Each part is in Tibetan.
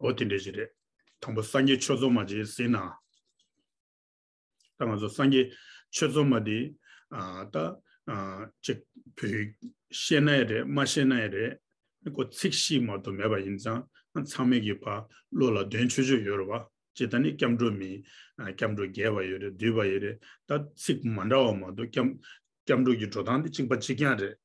ཨོ་དེ་འདྲ་ཞིག་རེད་དང་པོ་སངས་རྒྱས་ཆོས་རྫོགས་མ་རྗེས་ཟིན་ན་ད་ང་ཚོ་སངས་རྒྱས་ཆོས་རྫོགས་མ་དེ་ད་ཅིག་བུ་ཤེས་ན་ཡ་རེད་མ་ཤེས་ན་ཡ་རེད་ཁོ་ཚིག་ཤིག་མ་གཏོགས་མེད་པ་ཡིན་ཙང་ཚང་མེད་ཀྱི་བ་བློ་ལ་དོན་ཆོས་ཆོས་ཡོད་རེད་བ་ཅེ་ད་ནི་སྐྱབས་འགྲོ་མིན་སྐྱབས་འགྲོ་རྒྱལ་བ་ཡོད་རེད་འདུས་པ་ཡོད་རེད་ད་ཚིག་མ་འདྲ་བ་མ་གཏོགས་སྐྱབས་འགྲོ་གྱི་འགྲོ་སྟངས་དེ་གཅིག་པ་གཅིག་རྐྱང་རེད་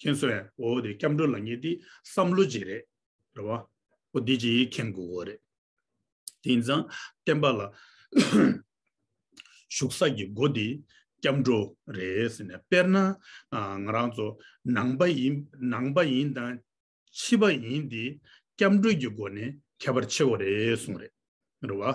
ཁྱེད་གསོལ་ཡ་འོ་དེ་སྐྱབས་འགྲོ་ལ་ངེས་དེ་བསམ་བློ་བྱེད་རེད་རེད་བ་འོ་དེ་ཅི་ཡིས་ཁེན་དགོས་འོ་རེད་དེ་ཡིན་ཙང་བསྟན་པ་ལ་ཞུགས་ས་ཀྱི་སྒོ་དེ་སྐྱབས་འགྲོ་རེད་ཟེར་ནས་དཔེར་ན་ང་རང་ཚོ་ནང་པ་ཡིན་ནང་པ་ཡིན་དང་ཕྱི་པ་ཡིན་དེ་སྐྱབས་འགྲོ་གྱི་སྒོ་ནས་ཁྱད་པར་ཆེ་བ་རེད་གསུངས་རེད་རེད་བ།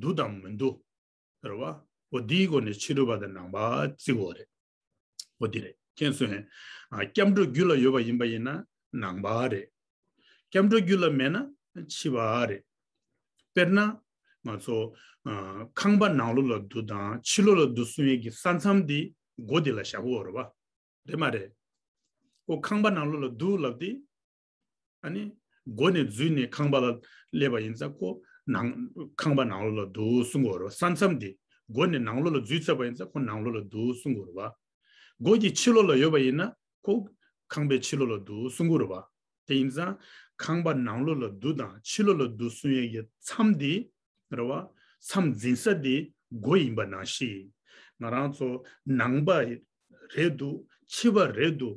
འདུ་དང་མི་འདུ་ཟེར་བ་འོ་འདིའི་སྒོ་ནས་ཕྱི་རོལ་པ་དང་ནང་པ་བརྩི་བོ་རེད་འོ་འདི་རེད་ཁྱེད་གསོན་སྐྱབས་འགྲོ་རྒྱུད་ལ་ཡོད་པ་ཡིན་པ་ཡིན་ན་ནང་པ་རེད་སྐྱབས་འགྲོ་རྒྱུད་ལ་མེད་ན་ཕྱི་པ་རེད་དཔེར་ན་ང་ཚོ་ཁང་པ་ནང་ལོ་ལ་འདུ་དང་ཕྱི་ལོ་ལ་འདུ་སྲོལ་ཡིན་གྱི་ས་མཚམས་འདི་སྒོ་འདི་ལ་བཞག་གོ་རེད་པ་རེད་མ་རེད་ཁོ་ཁང་པ་ནང་ལོ་ལ་འདུ་ལབ་དེ་ཨཱནི། སྒོ་ནས་འཛུལ་ནས་ཁང་པ་ལ་སླེབས་པ་ཡིན་ཙང་ཁོ། ནང། ཁང་པ་ནང་ལོགས་ལ་འདུག་གསུང་གོ་རུ་བ་ས་མཚམས་དེ། སྒོ་ནས་ནང་ལོགས་ལ་འཛུལ་ཚར་བ་ཡིན་ཙང་ཁོ་ནང་ལོགས་ལ་འདུག་གསུང་གོ་རུ་བ། སྒོ་ཀྱི་ཕྱི་ལོགས་ལ་ཡོད་པ་ཡིན་ན། ཁོ། ཁང་པའི་ཕྱི་ལོགས་ལ་འདུག་གསུང་གོ་རུ་བ། དེ་ཡིན་ཙང། ཁང་པ་ནང་ལོགས་ལ་འདུག་དང་ཕྱི་ལོགས་ལ་འདུག་གསུང་ཡས་ཀྱི་མཚམས་དེ། རུ་བ། མཚམས་འཛིན་ས་དེ། སྒོ་ཡིན་པ་ནང་ཤི། ང་རང་ཚོ། ནང་པ། རེད་འདུག་ཕྱི་པ་རེད་འདུག།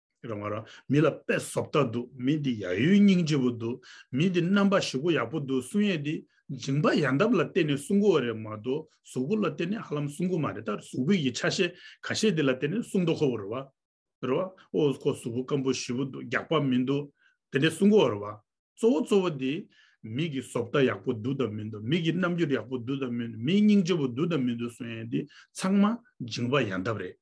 རང་ང་རང་མི་ལ་དཔེ་བཟོ་བལྟ་འདུག་མི་འདི་ཡ་ཡོད་སྙིང་རྗེ་བོ་འདུག་མི་འདི་རྣམ་པ་ཞི་བོ་ཡག་པོ་འདུག་གསུང་ཡས་འདི་མཇིང་པ་ཡལ་འདབ་ལ་བལྟས་ནས་གསུང་གོ་བ་རེད་མ་གཏོགས་གཟུགས་པོ་ལ་བལྟས་ནས་ཧ་ལམ་གསུང་གོ་མ་རེད་ད་གཟུགས་པོ་ཡི་ཆ་ཤས་ག་ཤས་འདི་ལ་བལྟས་ནས་གསུང་འགྲོ་ཁོ་བོ་རེད་བ་རེད་བ་ཨོ་ཁོ་གཟུགས་པོ་སྐམ་པོ་ཞི་བོ་འདུག་རྒྱགས་པ་མི་འདུག་དེ་འདྲས་གསུང་གོ་བ་རེད་བ་གཙོ་བོ་གཙོ་བོ་འདི་མི་གི་བཟོ་བལྟ་ཡག་པོ་འདུག་དང་མི་འདུག་མི་གི་རྣམ་འགྱུར་ཡག་པོ་འདུག་དང་མི་འདུག་མི་སྙིང་རྗེ་བོ་འདུག་དང་མི་འདུག་གསུང་ཡས་འདི་ཚང་མ་མཇིང་པ་ཡལ་འདབ་རེད།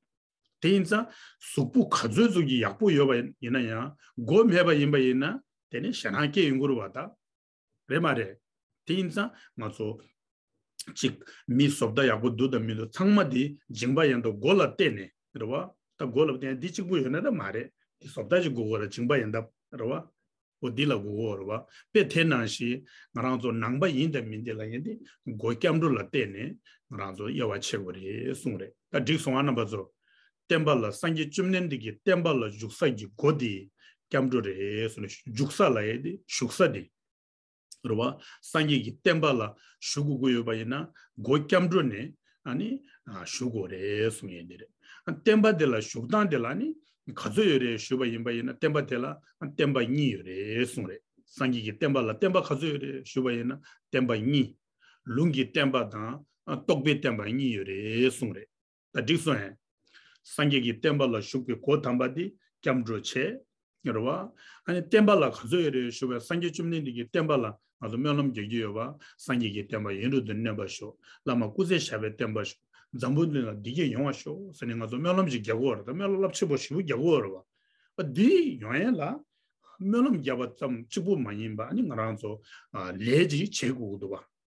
དེ་ཡིན་ཙང་གཟུགས་པོ་ག་ཚོད་གཟུགས་ཀྱི་ཡག་པོ་ཡོད་པ་ཡིན་ན་ཡང་སྒོ་མེད་པ་ཡིན་པ་ཡིན་ན་དེ་ནི་ཞེ་སྣང་སྐྱེ་ཡོང་གི་རུ་བ་དང། རེད་མ་རེད། དེ་ཡིན་ཙང་ང་ཚོ། གཅིག་མི་བཟོ་བལྟ་ཡག་པོ་འདུག་དང་མི་འདུག་ཚང་མ་དེ་སྦྱིན་པ་ཡིན་དང་སྒོ་ལ་བལྟས་ནས་རེད་བ། ད་སྒོ་ལ་བལྟས་ན་དེ་གཅིག་པུ་ཡོད་ན་རེད་མ་རེད། དེ་བཟོ་བལྟ་ཅིག་སྒོ་སྒོ་ལ་སྦྱིན་པ་ཡིན་སྟབས་རེད་བ། པོ་འདི་ལ་དགུ་གོ་བར་བ་པས་དེ་ནང་བཞིན་ང་རང་ཚོ་ནང་པ་ཡིན་དང་མིན་དེ་ལ་ཡིན་ཏེ་སྒོ་སྐྱབས་འགྲོ་ལ་བལྟས་ནས་ང་རང་ཚོ་དབྱེ་བ་ཕྱེ་དགོས་རེད་གསུངས་རེད་ད་འགྲིག་སོང་ཨ་རྣམ་པ་ཚོ། བསྟན་པ་ལ་སངས་རྒྱས་བཅོམ་ལྡན་འདས་ཀྱི་བསྟན་པ་ལ་འཇུག་ས་ཀྱི་སྒོ་དེ་སྐྱབས་འགྲོ་རེད་ཟེར་ན་འཇུག་ས་ལ་ཡེ་དེ་ཞུགས་ས་དེ། རུ་བ་སངས་རྒྱས་ཀྱི་བསྟན་པ་ལ་ཞུགས་དགོས་ཀྱི་ཡོད་པ་ཡིན་ན་སྒོ་སྐྱབས་འགྲོ་ནས་ཨཱནི་ཞུགས་དགོས་རེད་གསུངས་ཡོད་རེད། བསྟན་པ་དེ་ལ་ཞུགས་སྟངས་དེ་ལ་ནི་ག་ཚོད་ཡོད་རེད་ཞུས་པ་ཡིན་པ་ཡིན་ན་བསྟན་པ་དེ་ལ་བསྟན་པ་གཉིས་ཡོད་རེད་གསུངས་རེད། སངས་རྒྱས་ཀྱི་བསྟན་པ་ལ་བསྟན་པ་ག་ཚོད་ཡོད་རེད་ཞུས་པ་ཡིན་ན་བསྟན་པ་གཉིས། ལུང་གི་བསྟན་པ་དང་རྟོགས་པའི་བསྟན་པ་གཉིས་ཡོད་རེད་གསུངས་རེད། ད་འགྲིགས་སོང་ཨེ། སངས་རྒྱས་ཀྱི་བསྟན་པ་ལ་ཞུགས་པའི་སྒོ་དམ་པ་འདི་སྐྱབས་འགྲོ་བྱས། རེད་བ། ཨ་ནི་བསྟན་པ་ལ་ག་ཚོད་ཡོད་རེད་ཞུ་བའི་སངས་རྒྱས་བཅོམ་ལྡན་འདས་ཀྱི་བསྟན་པ་ལ་ང་ཚོ་སྨོན་ལམ་འཇོག་རྒྱུ་ཡོད་བ། སངས་རྒྱས་ཀྱི་བསྟན་པ་ཡིན་རུང་དུ་གནས་པར་ཤོག་བླ་མ་སྐུ་ཚེ་ཞབས་པའི་བསྟན་པར་ཤོག་འཛམ་བུ་གླིང་ལ་བདེ་སྐྱིད་ཡོང་བར་ཤོག་ཟེར་ནས་ང་ཚོ་སྨོན་ལམ་ཅིག་རྒྱག་གོ་རེད་ད་སྨོན་ལ་རླབས་ཆེ་པོ་བཞི་པོ་རྒྱག་གོ་རེད་བ། ཨ་འདི་ཡོང་ཨེ་ལ། སྨོན་ལམ་རྒྱབ་པ་ཙམ་གཅིག་པོ་མ་ཡིན་པ་ཨ་ནི་ང་རང་ཚོ་ལས་ཅིག་བྱེད་དགོས་ཀྱི་འདུག་བ།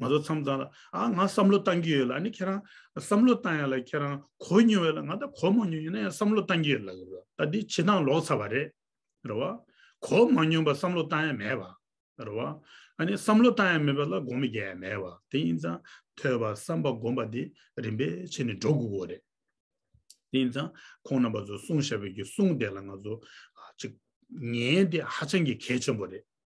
ང་ཚོ་མཚམས་ཚང་ལ་ཨ་ང་བསམ་བློ་གཏང་གི་ཡོད་ལ་ཨ་ནི་ཁྱེད་རང་བསམ་བློ་གཏང་ཡ་ལ་ཁྱེད་རང་གོ་ཉུང་བས་ལ་ང་ད་གོ་མ་ཉུང་ཡིན་ན་ཡང་བསམ་བློ་གཏང་གི་ཡོད་ལ་ཡོད་རོ་ད་འདི་བྱེད་སྟངས་ལོག་ཚར་བ་རེད་རེད་བ། གོ་མ་ཉུང་བ་བསམ་བློ་གཏང་ཡ་མེད་བ་རེད་བ། ཨ་ནི་བསམ་བློ་གཏང་ཡ་མེད་པ་ལ་དགོངས་མི་རྒྱག་ཡ་མེད་བ་དེ་ཡིན་ཙང་ཐོས་པ་བསམ་པ་སྒོམ་པ་དེ་རིམ་པས་བྱས་ནས་འགྲོ་དགོས་གོ་རེད། དེ་ཡིན་ཙང་ཁོང་རྣམ་པ་ཚོ་གསུང་ཞབས་པའི་གི་གསུང་དེ་ལ་ང་ཚོ་གཅིག་ཉན་དེ་ཧ་ཅང་གི་གལ་ཆེན་པོ་རེད།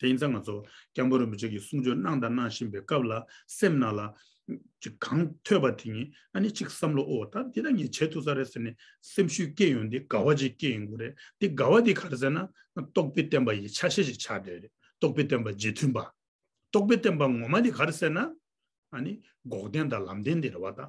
དེ་ཡིན་ཙང་ང་ཚོ་སྐྱབས་མགོན་རིན་པོ་ཆེ་གིས་གསུང་ཆོས་གནང་དང་གནང་བཞིན་པའི་སྐབས་ལ་སེམས་ནང་ལ། ཅིག་གང་ཐོས་པ་དེ་ཉིད་ཨ་ནི་ཅིག་བསམ་བློ་ཨོ་ད་འདི་འདྲ་ངས་བྱེད་ཐུབ་ས་རེད་ཟེར་ནས་སེམས་ཤུགས་སྐྱེད་ཡོང་དེ་དགའ་བ་ཅིག་སྐྱེད་ཡོང་གི་རེད་དེ་དགའ་བ་དེ་ག་རེ་ཟེར་ན་རྟོགས་པའི་བསྟན་པ་ཡི་ཆ་ཤས་ཤིག་ཆགས་བསྡད་རེད་རྟོགས་པའི་བསྟན་པ་རྗེས་མཐུན་པ། རྟོགས་པའི་བསྟན་པ་ངོ་མ་དེ་ག་རེ་ཟེར་ན། ཨ་ནི་འགོག་བདེན་དང་ལམ་བདེན་དེ་རེད་བ་ད།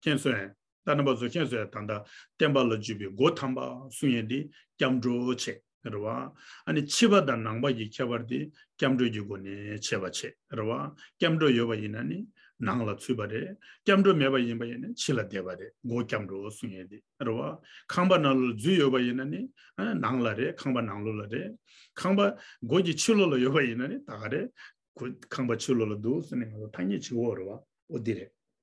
མཁྱེན་གསོལ། རྟ་རྣམ་པ་བཟོ་མཁྱེན་གསོལ་ཡང་ད་ལྟ་བསྟན་པ་ལ་འཇུས་པའི་སྒོ་ཐམས་པ་གསུང་ཡན་ཏི་སྐྱབས་འགྲོ་བྱེད་རེད་བ། ཨ་ནི་ཕྱི་པ་དང་ནང་པ་གྱི་ཁྱད་པར་ཏི་སྐྱབས་འགྲོ་གྱི་སྒོ་ནས་འབྱེད་པ་བྱེད་རེད་བ། སྐྱབས་འགྲོ་ཡོད་པ་ཡིན་ན་ནི་ནང་ལ་ཚུད་པ་རེད། སྐྱབས་འགྲོ་མེད་པ་ཡིན་པ་ཡིན་ན་ཕྱི་ལ་བསྡད་པ་རེད་སྒོ་སྐྱབས་འགྲོ་གསུང་ཡན་ཏི་རེད་བ། ཁང་པ་ནང་ལོ་ལ་འཛུལ་ཡོད་པ་ཡིན་ན་ནི་ནང་ལ་རེད་ཁང་པ་ནང་ལོ་ལ་རེད། ཁང་པ་སྒོ་གྱི་ཕྱི་ལོ་ལ་ཡོད་པ་ཡིན་ན་ནི་ད་ག་རེད། ཁང་པ་ཕྱི་ལོ་ལ་འདུག་ཟེར་ནི་ང་ཚོ་ཐ་སྙད་བྱེད་འོག་རེད་བ་འོ་འདི་རེད།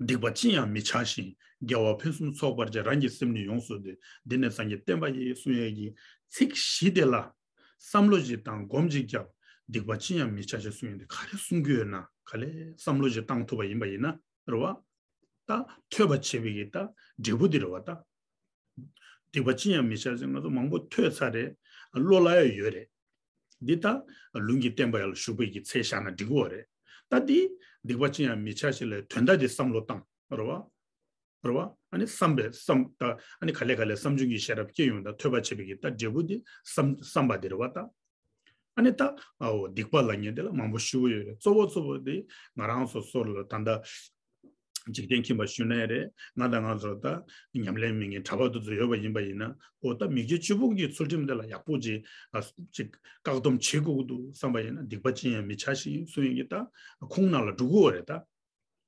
སྡིག་པ་ཅི་ཡང་མི་བྱ་ཞིང་དགེ་བ་ཕུན་སུམ་ཚོགས་པར་བྱས་རང་གི་སེམས་ནི་ཡོངས་སུ་བདེ། འདི་ནི་སངས་རྒྱས་བསྟན་པ་ཡི་གསུང་ཡན་གྱི་ཚིག་བཞི་སྟེ་ལ། བསམ་བློ་ཞིག་བཏང་སྒོམ་ཅིག་བརྒྱབ། སྡིག་པ་ཅི་ཡང་མི་བྱ་ཞེས་གསུངས་ཡོད་འདི་ག་རེ་གསུང་གི་ཡོད་ན་ག་ལས་བསམ་བློ་ཞིག་བཏང་ཐུབ་པ་ཡིན་པ་ཡིན་ན་རེ་བ། ལྟ། ཐོས་པ་བྱས་པའི་ཡི་ལྟ་འབྲས་བུ་འདི་རེ་བ་ལྟ། སྡིག་པ་ཅི་ཡང་མི་བྱ་ཞེས་ང་ཚོ་མང་པོ་ཐོས་ཚར་རེད། བློ་ལ་ཡོད་རེད། འདི་ལྟར་ལུང་གིས་བསྟན་པ་ཡར་ལ་ཞུགས་པའི་ཀྱི་ཚེ་བཞག་ན་འགྲིག་གོ་བ་རེད་ད་འདི་སྡིག་པ་ཅི་ཡང་མི་བྱ་ཞིག་ལ་དོན་དག་འདི་བསམ་བློ་བཏང་རོ་བ། རོ་བ། ཨ་ནི་བསམ་པས་བསམ་ད་ཨ་ནི་ག་ལས་ག་ལས་བསམ་བྱུང་གི་ཤེས་རབ་སྐྱེ་ཡོང་ད་ཐོས་པ་བྱེད་པའི་ཀྱི་ད་འབྲས་བུ་འདི་བསམ་བསམ་པ་འདི་རེད་བ་ད། ཨ་ནི་ད་ཨོ་སྡིག་པ་ལ་ཉེ་འདི་ལ་མང་པོ་ཤི་བོ་ཡོད་རེད་གཙོ་བོ་གཙོ་བོ་འདི་ང་རང་སོ་སོར་ལ་ད་ད། འཇིག་རྟེན་ཁྱིམ་པ་ཞུ་ན་ཡ་རེད་ང་དང་ང་ཚོར་ད་ཉམས་ལེན་མི་ངན་གྲྭ་བ་དུ་ཚོ་ཡོད་པ་ཡིན་པ་ཡིན་ན་ཨོ་ད་མིག་འབྱེད་ཆུ་ཕུག་གི་ཚུལ་ཁྲིམས་དེ་ལ་ཡག་པོ་ཅིག་ཅིག་བཀག་སྡོམ་བྱེད་དགོས་འདུག་བསམ་པ་ཡིན་ན་སྡིག་པ་ཅི་ཡང་མི་བྱ་ཞིང་སུ་ཡིན་གྱི་ད་ཁུངས་ནང་ལ་འགྲོ་གི་འོ་རེད་ད།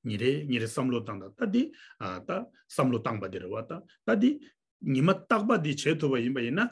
ཉིན་རེ་ཉིན་རེ་བསམ་བློ་བཏང་ད་ད་འདི་ད་བསམ་བློ་བཏང་པ་འདི་རེད་བ་ད་ད་འདི་ཉི་མ་རྟག་པ་འདི་བྱེད་ཐུབ་པ་ཡིན་པ་ཡིན་ན།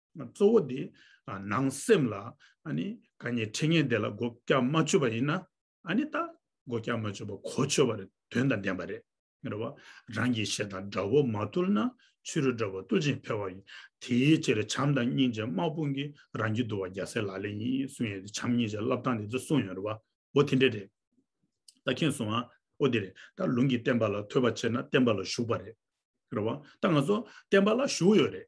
གཙོ་བོ་དེ་ནང་སེམས་ལ་ག་ཉེ་ཕྲད་ངན་དེ་ལ་སྒོ་སྐྱ་མ་ཆོད་པ་ཡིན་ན་ཨ་ནི་ད་སྒོ་སྐྱ་མ་ཆོད་པ་གོ་ཆོད་པ་རེད་དོན་དང་ལྡན་པ་རེད་ངེར་བ་རང་གི་ཞེ་སྡང་དགྲ་བོ་མ་བཏུལ་ན་ཆུ་རུལ་འདྲ་བོ་བཏུལ་ཅིང་འཕེལ་བ་ཡིན་དེའི་ཕྱིར་བྱམས་དང་སྙིང་རྗེ་དམག་དཔུང་གིས་རང་གི་འདུ་བ་རྒྱ་སེ་ལ་ལས་ཡིན་གསུང་ཡོད་དེ་བྱམས་སྙིང་རྗེ་བསླབ་སྟངས་དེ་ཚོ་གསུང་ཡོད་རེད་བ་འོ་དེ་འདྲས་རེད་ད་ཁྱེད་གསུང་ཨ་འོ་དེ་རེད་ད་ལུང་གི་བསྟན་པ་ལ་ཐོས་པ་བྱེད་ན་བསྟན་པ་ལ་ཞུགས་པ་རེད་རེད་བ་ད་ང་ཚོ་བསྟན་པ་ལ་ཞུགས་ཡོད་རེད་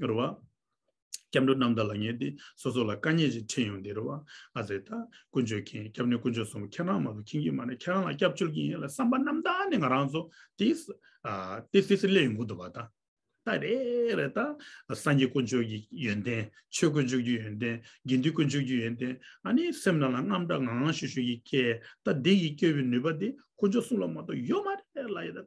རེད་བ། སྐྱབས་འགྲོ་རྣམས་དག་ལ་ངས་འདི་སོ་སོ་ལ་བཀའ་ཉན་ཅིག་འཕྲིན་ཡོང་འདི་རེད་བ། ཨ་ཙེ་ད། ཀུན་སྤྱོད་མཁྱེན་སྐྱབས་ནི་ཀུན་སྤྱོད་གསུམ་ཁྱེད་རང་མ་གཏོགས་མཁྱེན་གྱི་མ་རེད་ཁྱེད་རང་ལ་སྐྱབས་བཅོལ་གྱི་ཡིན་ལ་བསམ་པ་རྣམས་དག་ནི་ང་རང་ཚོ་དེས་དེས་དེས་སླད་ཡོང་གི་འདུག་བ་ད། ད་རེད་རེད་ད། སངས་རྒྱས་ཀུན་སྤྱོད་ཀྱི་ཡོན་ཏན་ཆོས་ཀུན་སྤྱོད་ཀྱི་ཡོན་ཏན་དགེ་འདུན་ཀུན་སྤྱོད་ཀྱི་ཡོན་ཏན་ཨ་ནི་སེམས་ལ་ལ་རྔམ་སྐྲག་ངང་ངང་ཤུ་ཤུ་ཡིས་སྐྱེས་ད་འདི་ཡིས་སྐྱོ་བའི་ནུས་པ་དེ་ཀུན་སྤྱོད་གསུམ་ལ་མ་གཏོགས་ཡོད་མ་རེད་ལ་ཡེ་ད།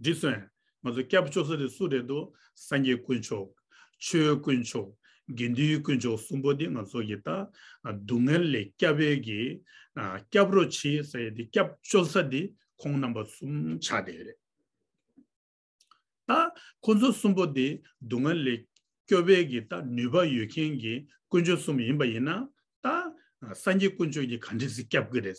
བགྲེས་སོན། ང་ཚོ་སྐྱབས་བཅོལ་ས་དེ་སུ་རེད་འདུག་སངས་རྒྱས་དཀོན་མཆོག། ཆོས་དཀོན་མཆོག། དགེ་འདུན་དཀོན་མཆོག་གསུམ་པོ་འདི་ང་ཚོ་ཡི་ད་སྡུག་བསྔལ་ལས་སྐྱབས་འོས་ཀྱི། སྐྱབས་རོགས་བྱེད་ས་ཡི་དེ་སྐྱབས་བཅོལ་ས་འདི་ཁོང་རྣམ་པ་གསུམ་ཆགས་བསྡད་རེད། ད་ཁོང་ཚོ་གསུམ་པོ་འདི་སྡུག་བསྔལ་ལས་སྐྱོབས་འོས་ཀྱི་ད་ནུས་པ་ཡོད་མཁན་གྱི་དཀོན་མཆོག་གསུམ་ཡིན་པ་ཡིན་ན་ད་སངས་རྒྱས་དཀོན་མཆོག་གྱིས་ག་འདྲས་སི་སྐྱབས་ཀྱི་རེད།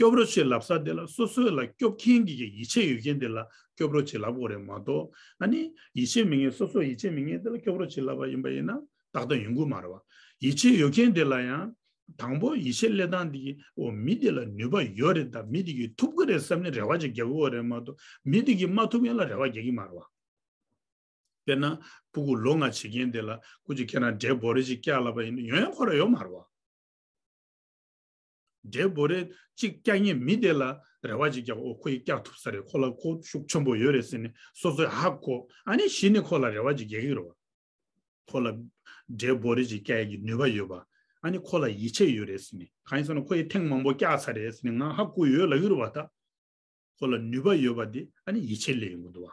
སྐྱོབ་རོགས་བྱེད་ལབ་ས་དེ་ལ་སོ་སོས་ལ་སྐྱོབ་མཁན་གྱི་གྱི་ཡིད་ཆེས་ཡོད་མཁན་དེ་ལ་སྐྱོབ་རོགས་བྱེད་ལབ་དགོས་རེད་མ་གཏོགས་ཨ་ནི་ཡིད་ཆེས་མི་ངན་སོ་སོ་ཡིད་ཆེས་མི་ངན་དེ་ལ་སྐྱོབ་རོགས་བྱེད་ལབ་པ་ཡིན་པ་ཡིན་ན་ཏག་ཏག་ཡོང་གི་མ་རེད་བ། ཡིད་ཆེས་ཡོད་མཁན་དེ་ལ་ཡང་དང་པོ་ཡིད་ཆེས་སླེ་སྟངས་འདི་འོ་མི་དེ་ལ་ནུས་པ་ཡོད་རེད་ད་མི་དེ་གྱིས་ཐུབ་གི་རེད་བསམ་ནས་རེ་བ་ཅིག་རྒྱག་དགོས་རེད་མ་གཏོགས་མི་དེ་གྱིས་མ་ཐུབ་མཁན་ལ་རེ་བ་རྒྱག་གི་མ་རེད་བ། དཔེར་ན་པུ་གུ་ལོ་ང་བྱེད་མཁན་དེ་ལ་ཀུ་ཅིག་ཁྱེད་རང་འདྲེ་བོ་རེ་ཅིག་སྐྱག་ལབ་པ་ཡིན་ན་ཡོང་ཡོང་ཁོ་ར་ཡོད་མ་རེད་བ། འབྲས་བུ་རེ་གཅིག་བསྐྱལ་ངེས་མི་དེ་ལ་རེ་བ་གཅིག་བསྐྱལ་བའོ་ཁོ་ཡིས་བསྐྱལ་ཐུབ་ས་རེད་ཁོ་ལ་ཁོ་ཤུགས་ཆེན་པོ་ཡོད་རེད་ཟེར་ནས་སོ་སོས་ཧ་གོ་ཨ་ནི་གཞི་ནས་ཁོ་ལ་རེ་བ་གཅིག་བསྐྱལ་གི་རེད་བ། ཁོ་ལ་འབྲས་བུ་རེ་གཅིག་བསྐྱལ་ཡག་གི་ནུས་པ་ཡོད་བ་ཨ་ནི་ཁོ་ལ་ཡིད་ཆེས་ཡོད་རེད་ཟེར་ནས་གང་ཡིན་ཟེར་ན་ཁོ་ཡིས་ཐེངས་མང་པོ་བསྐྱལ་ས་རེད་ཟེར་ནས་ང་ཧ་གོ་ཡོད་ལབ་གི་རེད་བ་ད། ཁོ་ལ་ནུས་པ་ཡོད་བ་དེ་ཨ་ནི་ཡིད་ཆེས་ལེ་ཡོང་གི་འདུག་བ།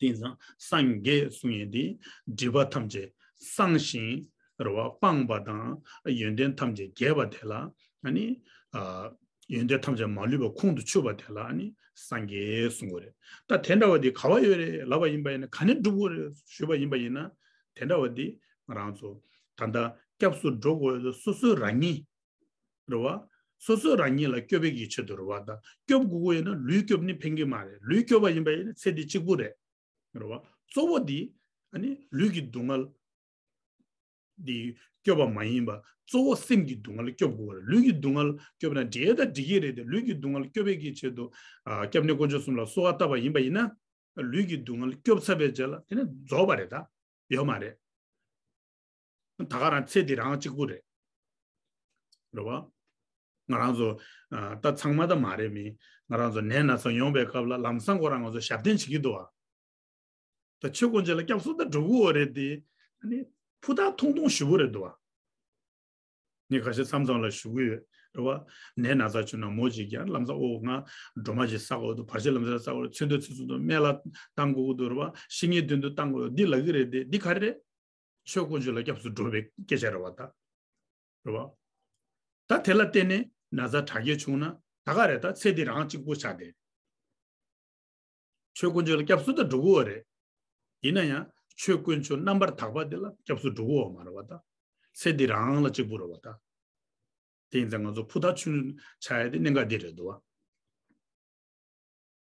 དེ་ནས་སངས་རྒྱས་གསུང་ཡིན་ཏེ། སྒྲིབ་པ་ཐམས་ཅད་སངས་ཤིང། རེ་བ་སྤངས་པ་དང། ཡོན་ཏན་ཐམས་ཅད་རྒྱས་པ་དེ་ལ་ནི། ཡོན་ཏན་ཐམས་ཅད་མ་ལུས་པ་ཁོང་དུ་ཆུད་པ་དེ་ལ་ནི་སངས་རྒྱས་གསུང་གོ་རེ། ད་དེ་འདྲ་བ་དེ་ག་བ་ཡོད་རེ་ལབ་པ་ཡིན་པ་ཡིན་ན་ག་ནས་འགྲུབ་བོ་རེ་ཞུས་པ་ཡིན་པ་ཡིན་ན། དེ་འདྲ་བ་དེ་ང་རང་ཚོ་ད་ལྟ་སྐྱབས་སུ་འགྲོ་དགོས་སོ་སོའི་རང་ཉིད་རེད་བ། སོ་སོ་རང་ཉིད་ལ་སྐྱོབ་བའི་ཡིད་ཆེད་དུ་རེད་བ་དང་སྐྱོབ་དགོས་དགོས་ཡོད་ན་ལུས་སྐྱོབ་ནི་ཕན་གི་མ་རེད་ལུས་སྐྱོབ་བ་ཡིན་པ་ཡིན་ན་ཚེ་འདི་གཅིག་པུ་རེད། རེད་བ། གཙོ་བོ་དེ་ནི་ལུས་ཀྱི་སྡུག་བསྔལ་འདི་སྐྱོབ་པ་མ་ཡིན་པ་གཙོ་བོ་སེམས་ཀྱི་སྡུག་བསྔལ་སྐྱོབ་དགོས་རེད་ལུས་ཀྱི་སྡུག་བསྔལ་སྐྱོབ་ན་འདྲེ་དང་འགྲིག་གི་རེད་དེ་ལུས་ཀྱི་སྡུག་བསྔལ་སྐྱོབ་བའི་ཡིད་ཆེད་དུ་སྐྱབས་གནས་དཀོན་མཆོག་གསུམ་ལ་གསོལ་བ་བཏབ་པ་ཡིན་པ་ཡིན་ན། ལུས་ཀྱི་སྡུག་བསྔལ་སྐྱོབ་ཚར་བའི་རྗེས་ལ་དེ་ནི་རྫོགས་པ་རེད་ད། ཡོད་མ་རེད། ད་ག་རང་ཚེ་འདི་རང་གཅིག་པུ་རེད་རེད་བ་ང་རང་ཚོ་ད་ཚང་མ་ད་མ་རེད་མིན་ང་རང་ཚོ་ནས་ན་ཚོ་ཡོང་པའི་སྐབས་ལ་ལམ་སང་གོ་རང་ང་ཚོ་ཞབས་བརྟན་བྱེད་ཀྱི་འདུག་བ་ད་ཆོས་གོང་ཆེ་ལ་སྐྱབས་སོ་ད་འགྲོ་གུ་བོ་རེད་དེ་ནི་ཕུ་ཐག་ཐུང་ཐུང་ཞུ་གུ་རེད་འདུག་བ་ནི་ག་ཤེ་ཚམ་ཚམ་ལ་ཞུ་གུ་ཡོད་རེད་བ་ནས་ན་ཚ་ཆུ་ན་མོ་ཅིག་ཀྱང་ལམ་སང་འོ་ང་འགྲོ་མ་ཅིག་ས་གོ་དུ་བར་ཆེ་ལམ་སང་ས་གོ་ཚོན་དུ་ཚོན་ཚོན་དུ་མེ་ལ་བཏང་གུ་གུ་དུ་རེད་བ་ཤིང་ཡེ་དུན་དུ་བཏང་གུ་དེ་ལ་གི་རེད་དེ་དེ་ག་རེད་ཆོས་སྐུ་ཆོས་ལ་སྐྱབས་སུ་འགྲོ་བའི་སྐད་ཆ་རེད་བ་ད་རེད་བ་ད་དེ་ལ་བརྟེན་ནས་ན་བཟའ་དྲག་སྐྱེད་བྱུང་ན་ད་ག་རེད་ད་ཚེ་འདི་རང་གཅིག་པུ་ཆགས་དེ་ཆོས་སྐུ་ཆོས་ལ་སྐྱབས་སུ་ད་འགྲོ་གོ་རེད་ཡིན་ན་ཡང་ཆོས་སྐུ་ཆོས་རྣམ་པར་དག་པ་དེ་ལ་སྐྱབས་སུ་འགྲོ་གོ་མ་རེད་བ་ད་ཚེ་འདི་རང་ལ་གཅིག་པུ་རེད་བ་ད་དེ་ཡིན་ཙང་ང་ཚོ་ཕུ་ཐག་ཆུ་ཆ་ཡ་དེ་གནད་འགག་དེ་རེད་དོ་བ་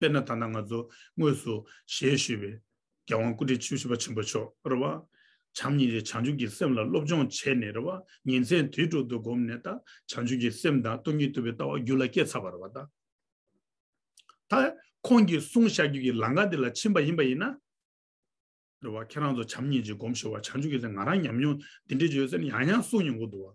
དཔེར་ན་ད་ལྟ་ང་ཚོ་དངོས་སུ་ཞལ་བཞེས་པའི། རྒྱལ་དབང་སྐུ་ཕྲེང་བཅུ་བཞི་པ་ཆེན་པོ་མཆོག་རེད་བ། བྱམས་སྙིང་རྗེ་བྱང་ཆུབ་ཀྱི་སེམས་ལ་སློབ་སྦྱོང་བྱས་ནས་རེད་བ། ཉིན་མཚན་དུས་དྲུག་ཏུ་བསྒོམས་ནས་ད་བྱང་ཆུབ་ཀྱི་སེམས་དང་སྟོང་ཉིད་རྟུལ་བའི་ལྟ་བ་རྒྱུད་ལ་སྐྱེ་ཚར་བ་རེད་བ། ད་ཁོང་གིས་གསུང་བཤད་རྒྱུད་ཀྱི་ལང་ཀ་འདི་ལ་ཕྱིན་པ་ཡིན་པ་ཡིན་ན། རེད་བ། ཁྱེད་རང་ཚོ་བྱམས་སྙིང་རྗེ་སྒོམ་ཞོར་བ་བྱང་ཆུབ་ཀྱི་སེམས་ང་རང་ཉམས་མྱོང་འདི་འདྲས་ཡོད་ཟེར་ནས་ཡང་ཡང་གསུང་མྱོང་གི་འདུག་བ།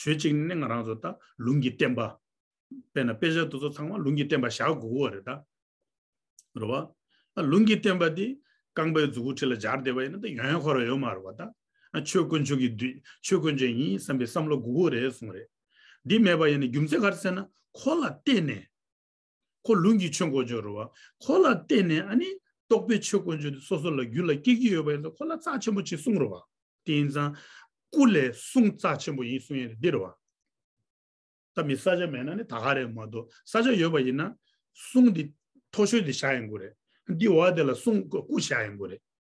ཞོལ་གཅིག་ནི་ང་རང་ཚོ་ད་ལུང་གིས་བསྟན་པ། དཔེར་ན་དཔེ་ཆ་དེ་ཚོ་ཚང་མ་ལུང་གིས་བསྟན་པ་བཞག་དགོས་གོ་རེད་ད། རེད་བ། ད་ལུང་གིས་བསྟན་པ་དེ་རྐང་པའི་མཛུབ་བུ་ཁྲི་ལ་སྦྱར་བསྡད་པ་ཡིན་ན་ད་ཡོན་ཡོན་འཁོར་བ་ཡོད་མ་རེད་བ་ད། ཆོས་དཀོན་མཆོག་གི་དུས་ཆོས་དཀོན་མཆོག་ཡིན་བསམ་པའི་བསམ་བློ་དགོས་གོ་རེད་གསུངས་རེད། འདི་མེད་པ་ཡིན་ན་རྒྱུ་མཚན་ག་རེ་ཟེར་ན་ཁོ་ལ་བརྟེན་ནས། ཁོ་ལུང་གི་ཆོས་འཁོར་སྦྱོར་རོ། ཁོ་ལ་བརྟེན་ནས་ཨ་ནི། རྟོགས་པའི་ཆོས་འཁོར་སྦྱོར་དུ་སོ་སོ་ལ་རྒྱུད་ལ་སྐྱེ་རྒྱུ་ཡོད་པ་ཡིན་ཚ་ཁོ་ལ་རྩ་ཆེན་པོ་གཅིག་གསུངས་རོ། དེ་ཡིན་ཙང། སྐུ་ལས་གསུངས་རྩ་ཆེན་པོ་ཡིན་གསུངས་ཡས་ནི་འདི་རོ། ད་མི་ས་ཆ་མེད་ན་ནི་ད་ཧ་རེ་མ་གཏོགས་ས་ཆ་ཡོད་པ་ཡིན་ན། གསུངས་འདི། མཐོ་ཤོས་འདི་བཞག་ཡིན་དགོས་རེད། འདི་བ་དེ་ལ་གསུངས་སྐུ་བཞག་ཡིན་དགོས་རེད།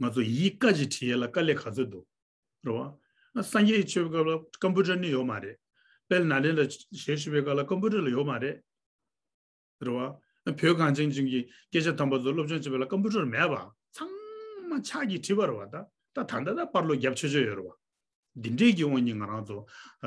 ང་ཚོ་ཡིག་དཀའ་ཅིག་བྲིས་ཡས་ལ་དཀའ་ལས་ག་ཚོད་འདུག་རེད་བ། སངས་རྒྱས་ཆོས་པའི་སྐབས་ལ་ཀམ་པུ་ཏར་ནི་ཡོད་མ་རེད། དཔལ་ནཱ་ལེནྡྲ་ཞེས་ཆོས་པའི་སྐབས་ལ་ཀམ་པུ་ཏར་ལ་ཡོད་མ་རེད། རེད་བ། བོད་གངས་ཅན་ཅན་གྱི་སྐད་ཆ་དམ་པ་ཚོ་སློབ་སྦྱོང་བྱེད་པ་ལ་ཀམ་པུ་ཏར་མེད་བ། ཚང་མ་ཕྱག་གིས་བྲིས་པ་རེད་བ། ད་ད་ད་ད་པར་ལོ་རྒྱབ་ཆོད་ཆོད་ཡོད་རེད་བ། འདི་འདྲའི་ཡིད་འོང་གཉིས་ང་རང་ཚོ།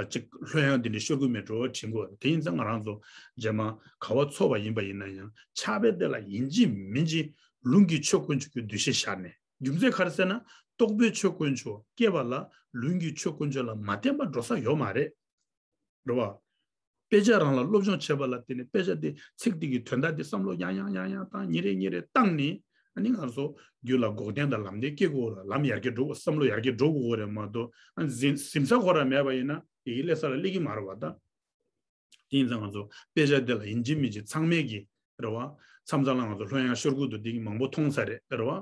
གཅིག་ལྷོད་ཡངས་འདི་འདྲའི་ཤོར་ཁུལ་མེ་ཏྲོ་བ་བྲིས་འགོ་དེ་ཡིན་ཚེ་ང་རང་ཚོ། རྗེས་མ། ག་བ་འཚོ་བ་ཡིན་པ་ཡིན་ན་ཡང་ཆགས་པའི་དཔེ་ལ་ཡིན་གཅིག་མིན་གཅིག། ལུང་གིས་ཆོས་དཀོན་མཆོག་གི་གདུལ་བྱའི་ཞར་ནས་རྒྱུ་མཚན་ག་རེ་བསལ་ན། རྟོགས་པའི་ཆོས་དཀོན་མཆོག་སྐྱེས་པ་ལ་ལུང་གིས་ཆོས་དཀོན་མཆོག་ལ་མ་བརྟེན་པར་འགྲོ་ས་ཡོད་མ་རེད། འགྲོ་བ། དཔེ་ཆ་རང་ལ་སློབ་སྦྱོང་བྱེད་པ་ལ་བརྟེན་ནས་དཔེ་ཆ་དེ་ཚིག་དེ་གི་དོན་དག་དེ་བསམ་བློ་ཡང་ཡང་ཡང་ཡང་བཏང་ཉིན་རེ་ཉིན་རེ་བཏང་ནས་ཨ་ནི་ང་ཚོ་རྒྱུད་ལ་འགོག་བདེན་དང་ལམ་བདེན་སྐྱེ་དགོས་ལ་ལམ་ཡར་རྒྱས་འགྲོ་བསམ་བློ་ཡར་རྒྱས་འགྲོ་དགོས་རེད་མ་གཏོགས་ཨ་ནི་གཟིམ་ས་ཁོ་ར་མེད་པ་ཡིན་ན་ཡི་གེ་བསླེ་ས་ལ་བསླེ་གི་མ་རེད་བ་ད། དེ་ཡིན་ཚ་ང་ཚོ་དཔེ་ཆ་དེ་ལ་ཡིན་གཅིག་མིན་གཅིག་ཚང་མེད་གི་རེད་བ་མཚམས་མཚམས་ལ་ང་ཚོ་ལྷོད་ཡངས་ཤོར་ཁུག་ཏུ་དེ་གི་མང་པོ་མཐོང་ས་རེད་རེད་བ།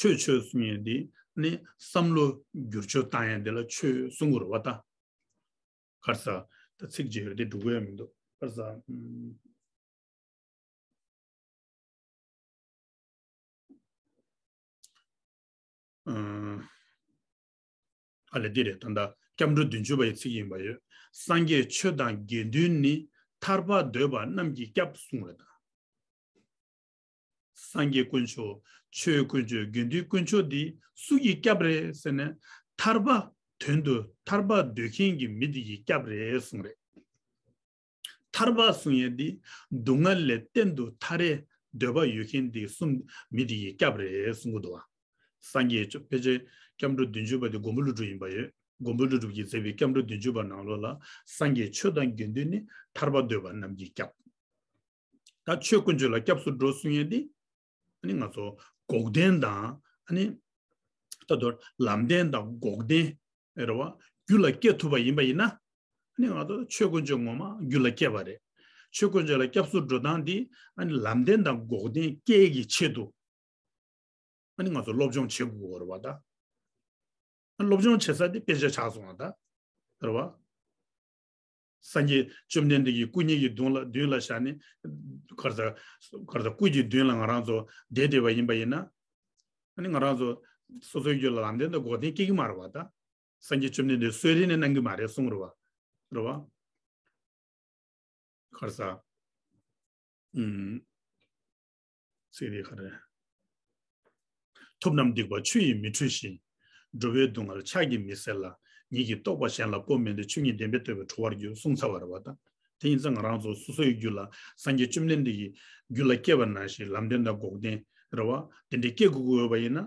ཆོས་ཆོས་གསུང་ཡན་འདི་ནི་བསམ་བློ་བསྒྱུར་ཆོས་བཏང་ཡན་འདི་ལ་ཆོས་གསུང་གུ་རུ་བ་ད་གར་ས་ད་ཚིག་རྗེ་ཡོད་དེ་འགྲུག་གོ་ཡ་མི་འདུག་གར་ས་ཨ་ལེ་དེ་རེད་ད་ད་སྐྱབས་འགྲོ་བདུན་ཅུ་པ་ཡི་ཚིག་ཡིན་པ་ཡོད་སངས་རྒྱས་ཆོས་དང་དགེ་འདུན་ནི་ཐར་པ་འདོད་པ་རྣམས་ཀྱི་སྐྱབས་གསུང་བ་དང། སངས་རྒྱས་དཀོན་མཆོག་ཆོས་དཀོན་མཆོག་དགེ་འདུན་དཀོན་མཆོག་འདི་སུ་ཡི་སྐྱབས་རེད་ཟེར་ནས། ཐར་པ་དོན་དུ་ཐར་པ་འདོད་མཁན་གྱི་མི་འདི་ཡི་སྐྱབས་རེད་གསུངས་རེད། ཐར་པ་གསུང་ཡས་འདི་སྡུག་བསྔལ་ལས་གཏན་དུ་ཐར་རེ་འདོད་པ་ཡོད་མཁན་འདི་སུ་མི་འདི་ཡི་སྐྱབས་རེད་གསུང་གི་འདུག་བ། སངས་རྒྱས་ཆོས་དཔལ་ཆེན་སྐྱབས་འགྲོ་བདུན་ཅུ་པ་འདི་མགོན་པོ་ཀླུ་སྒྲུབ་ཡིན་པ་ཡོད་མགོན་པོ་ཀླུ་སྒྲུབ་ཀྱིས་མཛད་པའི་སྐྱབས་འགྲོ་བདུན་ཅུ་པ་ནང་ལོགས་ལ་སངས་རྒྱས་ཆོས་དང་དགེ་འདུན་ནི་ཐར་པ་འདོད་པ་རྣམས་ཀྱི་སྐྱབས། ད་ཆོས་ཀུན་སྤྱོད་ལ་སྐྱབས་སུ་འགྲོ་སུ་ཡིན་ཏེ། ཨནི་ང་ཚོ་འགོག་བདེན་དང་ཨནི་ད་དོར་ལམ་བདེན་དང་འགོག་བདེན་རེད་བ། རྒྱུ་ལ་སྐྱེ་ཐུབ་པ་ཡིན་པ་ཡིན་ན། ཨནི་ང་ཚོ་ཆོས་ཀུན་སྤྱོད་ངོ་མ་རྒྱུ་ལ་སྐྱེ་བ་རེད། ཆོས་ཀུན་སྤྱོད་ལ་སྐྱབས་སུ་འགྲོ་སྟངས་དེ་ཨནི་ལམ་བདེན་དང་འགོག་བདེན་སྐྱེ་གི་ཆེད་དུ། ཨནི་ང་ཚོ་སློབ་སྦྱོང་བྱེད་དགོས་རེད་བ་ད། སློབ་སྦྱོང་བྱེད་ས་དེ་དཔེ་ཆ་ཆགས་སོང་བ་ད་རེད་བ། སངས་རྒྱས་བཅོམ་ལྡན་འདས་ཀྱི་སྐུ་གཉིས་ཀྱི་མདུན་ལ་བཞག་ནས། གར་དག། གར་དག་སྐུ་གྱི་མདུན་ལ་ང་རང་ཚོ་བསྡད་བསྡད་པ་ཡིན་པ་ཡིན་ན། ཨ་ནི་ང་རང་ཚོ་སོ་སོའི་རྒྱུད་ལ་ལམ་བསྟན་དང་འགོག་བསྟན་སྐྱེ་གི་མ་རེད་བ་ད། སངས་རྒྱས་བཅོམ་ལྡན་འདས་གསོལ་རས་ནས་གནང་གི་མ་རེད་གསུངས་རེད་བ། རེད་བ། གར་དག། ཚིག་དེ་ག་རེད། ཐུབ་རྣམས་སྡིག་པ་ཆུ་ཡིས་མི་འཁྲུད་བཞིན། སྒྲུབ་པའི་སྡུག་བསྔལ་ཕྱག་གིས་མི་བསལ་ལ། ཉིད་ཀྱིས་རྟོགས་པ་གཞན་ལ་སྤོབས་མེད་དེ་ཆོས་ཉིད་བདེན་པས་བསྟོད་པའི་ཁྲོ་བར་གྱུར་གསུང་ཚར་བ་རེད་བ་ད། དེ་ཡིན་ཙང་ང་རང་ཚོ་སོ་སོ་ཡི་རྒྱུད་ལ་སངས་རྒྱས་བཅོམ་ལྡན་འདས་ཀྱི་རྒྱུད་ལ་སྐྱེས་པ་ན་ཞིག་ལམ་སྟོན་དང་འགོག་བདེན་རེད་བ། དེ་འདྲའི་སྐྱེ་དགུ་དགུ་འོས་པ་ཡིན་ན།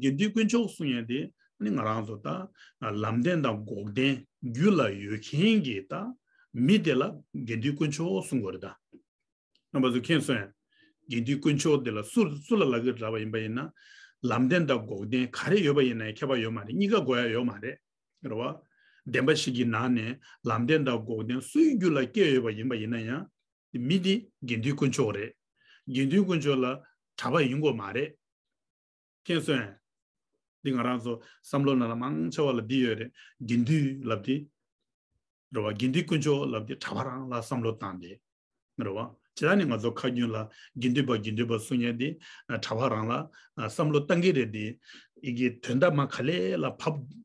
དགེ་འདུན་དཀོན་མཆོག་གསུང་ཡན་དེ་ནི་ང་རང་ཚོ་ད་ལམ་བདེན་དང་འགོག་བདེན་རྒྱུད་ལ་ཡོད་མཁན་གྱི་ད་མི་དེ་ལ་དགེ་འདུན་དཀོན་མཆོག་གསུང་དགོས་རེད་ད། རྣམ་པ་ཚོ་མཁྱེན་གསོན། དགེ་འདུན་དཀོན་མཆོག་དེ་ལ་སུ་ལ་ལ་གི་ར་བ་ཡིན་པ་ཡིན་ན། ལམ་བདེན་དང་འགོག་བདེན་ག་རེ་ཡོད་པ་ཡིན་ན་ཡང་ཁྱད་པ་ཡོད་མ་རེད་གཉིས་ཀ་འགོག་ཡ་ཡོད་མ་རེད། རེད་བ། བདེན་པ་ཞིག་གི་ནང་ནས་ལམ་བདེན་དང་འགོག་བདེན་སུའི་རྒྱུད་ལ་སྐྱེས་ཡོད་པ་ཡིན་པ་ཡིན་ན་ཡང། མི་འདི་དགེ་འདུན་དཀོན་མཆོག་རེད། དགེ་འདུན་དཀོན་མཆོག་ལ་གྲྭ་པ་ཡིན་དགོས་མ་རེད། མཁྱེན་གསོལ། འདི་ང་རང་ཚོ་བསམ་བློ་ནང་ལ་མང་ཆེ་བ་ལ་འདི་ཡོད་རེད། དགེ་འདུན་ལབ་དེ། རེད་བ། དགེ་འདུན་དཀོན་མཆོག་ལབ་དེ་གྲྭ་པ་རང་ལ་བསམ་བློ་བཏང་དེ། རེད་བ། ཇི་ལྟར་ནས་ང་ཚོ་ཁ་རྒྱུན་ལ་དགེ་འདུན་པ་དགེ་འདུན་པ་གསུང་ཉན་དེ་གྲྭ་པ་རང་ལ་བསམ་བློ་བཏང་གི་རེད་དེ། ཡི་གེ་དོན་དག་མ་ག་ལེ་ལ་བབས།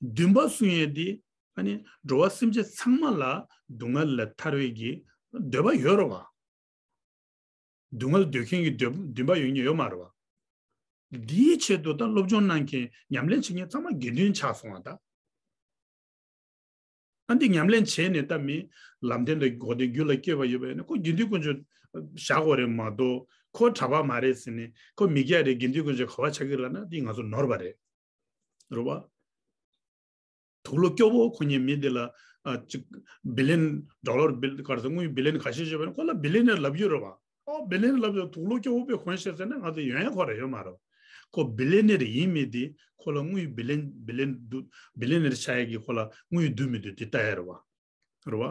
བདུན་པ་གསུང་ཡས་དེ་ཨནི་འགྲོ་བ་སེམས་ཅན་ཚང་མ་ལ་སྡུག་བསྔལ་ལས་ཐར་བའི་གི་འདོད་པ་ཡོད་རོ་བ། སྡུག་བསྔལ་འདོད་མཁན་གི་འདུན་པ་ཡོད་ཉིད་ཡོད་མ་རོ་བ། དེའི་ཆེད་དུ་ད་སློབ་སྦྱོང་གནང་མཁན་ཉམས་ལེན་བྱེད་མཁན་ཚང་མ་དགེ་འདུན་ཆགས་སོང་བ་ད། ཨ་འདི་ཉམས་ལེན་བྱས་ནས་ད་མི་ལམ་བསྟན་དུ་འགོ་དེ་རྒྱུད་ལ་སྐྱེ་བ་ཡོད་པ་ཡིན་ན་ཁོ་དགེ་འདུན་དཀོན་མཆོག་བཞག་གོ་རེད་མ་གཏོགས་ཁོ་གྲྭ་པ་མ་རེད་ཟེར་ནས་ཁོ་མི་རྒྱ་རེད་དགེ་འདུན་དཀོན་མཆོག་ག་བ་ཆགས་ཀྱི་ར་ན་དེ་ང་ཚོ་ནོར་བ་རེད། རོ་བ་དུག་ལོ་སྐྱོ་བོ་ཁོ་ཉིད་མི་དེ་ལ་ཅིག་བི་ལེན་དགྲ་ལོར་བི་གར་སོང་དངུལ་བི་ལེན་ག་ཤེད་ཤེད་པ་ཁོ་ལ་བི་ལེན་ནས་ལབ་ཡོད་རོ་བ་ཨོ་བི་ལེན་ལབ་ཡོད་དུག་ལོ་སྐྱོ་བོ་པས་གོན་ཤེད་ཟེར་ན་ང་ཚོ་ཡོན་ཡ་ཁོ་ར་ཡོད་མ་རོ་ཁོ་བི་ལེན་ནེར་ཡིན་མི་དེ་ཁོ་ལ་དངུལ་བི་ལེན་བི་ལེན་དུ་བི་ལེན་ནེར་ཆ་ཡ་གི་ཁོ་ལ་དངུལ་བསྡུ་མི་དུ་དེ་ལྟ་ཡ་རོ་བ་རོ་བ།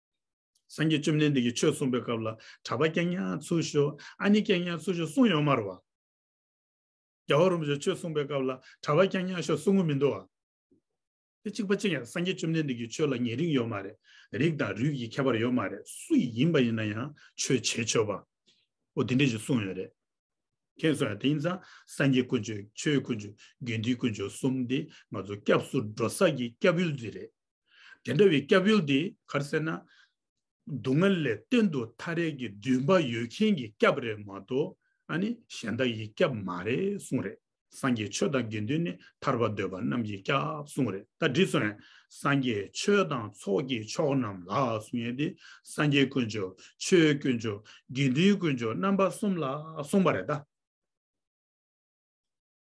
སངས་རྒྱས་བཅོམ་ལྡན་འདས་ཀྱིས་ཆོས་གསུངས་པའི་སྐབས་ལ་གྲྭ་པ་ཀྱེ་ཉར་ཚུར་ཤོག་ཨ་ནི་ཀྱེ་ཉར་ཚུར་ཤོག་གསུངས་ཡོད་མ་རུ་བ། རྒྱ་བོད་རིན་པོ་ཆེ་ཆོས་གསུངས་པའི་སྐབས་ལ་གྲྭ་པ་ཀྱེ་ཉར་ཤོག་གསུང་གི་མི་འདུག་བ། དེ་གཅིག་པ་གཅིག་ཡང་སངས་རྒྱས་བཅོམ་ལྡན་འདས་ཀྱི་ཆོས་ལ་ཉེ་རིང་ཡོད་མ་རེད། རིགས་དང་རུས་ཀྱི་ཁྱད་པར་ཡོད་མ་རེད་སུ་ཡི་ཡིན་པ་ཡིན་ན་ཡང་ཆོས་བྱེད་ཆོས་པ། འོ་དེ་འདྲས་ཞིག་གསུངས་ཡོད་རེད། ཁྱེད་གསུངས་ཡོད་དེ་ཡིན་ཙང་སངས་རྒྱས་དཀོན་མཆོག་ཆོས་དཀོན་མཆོག་དགེ་འདུན་དཀོན་མཆོག་གསུམ་དེ་ང་ཚོ་སྐྱབས་སུ་འགྲོ་ས་ཀྱི་སྐྱབས་ཡུལ་རེད། དེ་འདྲ་བའི་སྐྱབས་ཡུལ་འདི་གར་ཟེར་ན། སྡུག་བསྔལ་ལས་གཏན་དུ་ཐར་རེས་ཀྱི་འདུན་པ་ཡོད་མཁན་གྱི་སྐྱབས་རེད་མ་གཏོགས་ཨ་ནི་གཞན་དག་གི་སྐྱབས་མ་རེད་གསུངས་རེད། སངས་རྒྱས་ཆོས་དང་དགེ་འདུན་ནི་ཐར་བ་འདོད་པ་རྣམས་ཀྱི་སྐྱབས་གསུངས་རེད་ད་འདྲི་སོན། སངས་རྒྱས་ཆོས་དང་ཚོགས་ཀྱི་མཆོག་རྣམས་ལ་གསུངས་ཡོད་དེ་སངས་རྒྱས་དཀོན་མཆོག་ཆོས་དཀོན་མཆོག་དགེ་འདུན་དཀོན་མཆོག་རྣམ་པ་གསུམ་ལ་གསུངས་པ་རེད་ད།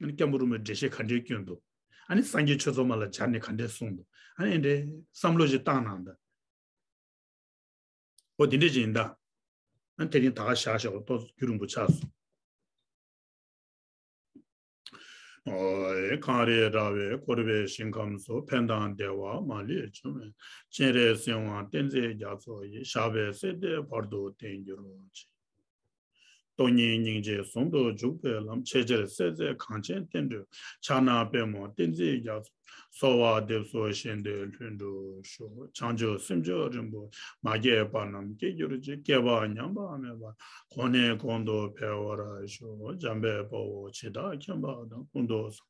ཨ་ནི་སྐྱབས་འགྲོ་རུ་མའི་འགྲེལ་བཤད་ག་འདྲའི་སྐྱོན་འདུག་ཨ་ནི་སངས་རྒྱས་ཆོས་ཚོགས་མ་ལ་སྦྱར་ནས་ག་འདྲའི་གསུངས་འདུག་ཨ་ནི་འདྲེ་བསམ་བློ་ཞིག་བཏང་ན་འདི་ཨོ་འདི་འདྲེ་ཅིག་ཡིན་ད་ཨ་ནི་དེ་རིང་ད་ག་བཞག་བཞག་གོ་ཏོ་རྒྱུ་རིང་པོ་ཆགས་སོ་ཨོའི་གངས་རི་ར་བའི་བསྐོར་བའི་ཞིང་ཁམས་སུ་ཕན་དང་བདེ་བ་མ་ལུས་འབྱུང་བའི་སྤྱན་རས་གསེར་དབང་བསྟན་འཛིན་རྒྱ་མཚོ་ཡི་ཞགས་པའི་གསེར་རྟའི་བར་དུ་བརྟན་འགྱུར་རོ། སྟོང་ཉིད་སྙིང་རྗེས་ཟུང་དུ་འཇུག་པའི་ལམ་ཆེ་ཆེར་གསལ་མཛད་གངས་ཅན་བསྟན་འགྲོའི་ཕྱག་ན་པདྨོ་བསྟན་འཛིན་རྒྱ་མཚོ་གསོལ་བ་འདེབས་སོ་གཞན་དོན་ལྷུན་གྲུབ་ཤོག་བྱང་ཆུབ་སེམས་མཆོག་རིན་པོ་མ་རྒྱས་པ་རྣམས་སྐྱེ་གྱུར་ཅིག་བསྐལ་པ་ཉམས་པ་མེད་པར་གོང་ནས་གོང་དུ་འཕེལ་བར་ཤོག་འཇམ་པའི་དཔའ་བོ་ཇི་ལྟར་མཁྱེན་པ་དང་སྐུ་མདོག་བཟང།